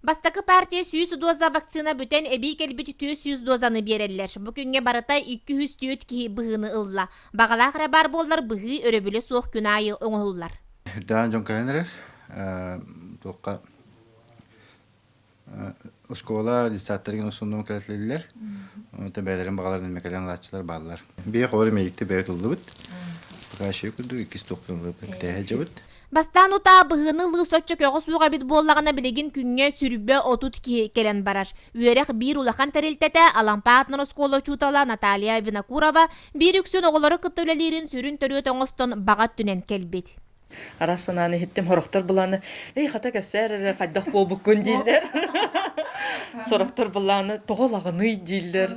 Бастакы партия сүүс доза вакцина бүтэн эбии кэлбит түөрт сүүс дозаны биэрэллэр. Бу күҥҥэ барыта икки үс түөрт киһи быһыыны ылла. Баҕалаах эрэ баар буоллар быһыы өрөбүлэ суох күн аайы оҥоһуллар. Үрдээн дьон кэлэн эрэр. Туохха оскуола детсадтарыгын усуннума кэлэтилэр. Оттон бэйэлэрин баҕаларын эмэ кэлэн ылааччылар бааллар. Биһиэхэ олору миэдикте бэйэ туллубут. Пока еще курдук иккис тухтун китээһэ жабыт. Бастаан утаа быһыыны ылыы соччо көҕө суох эбит буоллаҕына билигин күҥҥэ сүрбэ отут киһи кэлэн барар. Үөрэх биир улахан тэрилтэтэ Алампаат носкуола учуутала Наталья Винокурова биир үксүн оҕолору кытта үлэлиирин сүрүн төрүөт оҥостон баҕа өттүнэн кэлбит. Араас санааны иһиттим сорохтор былааны эй хата кэпсээр эрэ хайдах буолбуккун дииллэр сорохтор былааны тоҕо лаҕаный дииллэр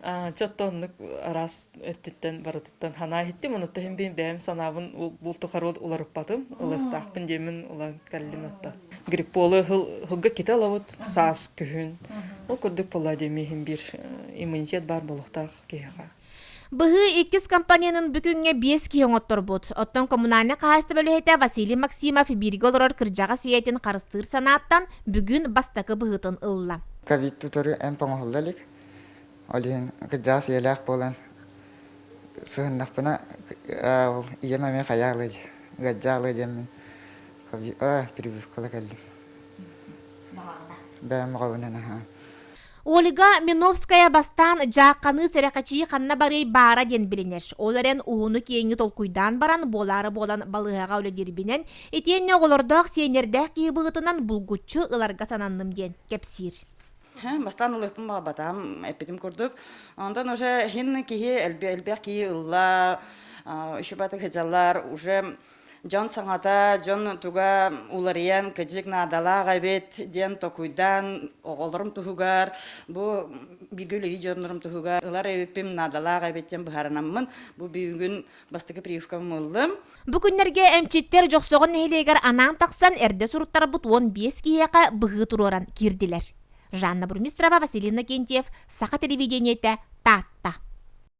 а че оттон араас өттүттэн барыта Тан ханаахиттим, онуттан бин бэйэм санаабын бултухар уларыппатым, ылыктаахпын диэмин улан каллим отта. Грипполы хыл хылга ките лабыт саас күһүн. Ол курдук болла демиһин бир иммунитет бар болохтаах киһиха. Быһыы иккис компаненын бүгүҥҥэ биэс киһи оҥотторбут. Оттон коммунальнай хаһаайыстыба үлэһитэ Василий Максимов бииргэ олорор кырдьаҕас ийэтин харыстыыр санааттан бүгүн бастакы быһыытын ылла. Ковид утары эмп оҥоһулла илик. Ол иһин кырдьаҕас ийэлээх буолан сыһыннахпына ол ийэм эмиэ хайа алый ыалдьаа алый диэммин прививкала кэллим бэйэм оҕобунан аһаан Ольга Миновская бастаан дьаахханыы сэрэхэчии ханна барыай баара диэн билинэр. Ол эрэн ууну-киэҥи толкуйдаан баран буолаары буолан балыыһаҕа үлэлиирбинэн итиэннэ оҕолордоох сиэннэрдээх киһи быһыытынан булгуччу ыларга сананным диэн кэпсиир. Бастаан ылыахпын баҕарбатаҕым эппитим курдук. Онтон уже һин киһи элбэх элбэх киһи ылла, ищупатык һыдьаллар уже дьон саҥата, дьон туга уларыйан кадьык наадалаах эбит диэн токуйдан оҕолорум туһугар бу бииргэ үлэлии дьоннорум туһугар ылар эбиппин наадалаах эбит диэн быһаарынаммын бу бүгүн бастакы прививкам ыллым. Бу күннэргэ эмчиттэр Дьохсоҕон нэһилиэгэр анаан тахсан эрдэ суруттарбыт уон биэс киһиэхэ быһыы туруоран киирдилэр. Жанна Бурмистрова, Василий Иннокентьев, Саха телевидениетэ, Таатта.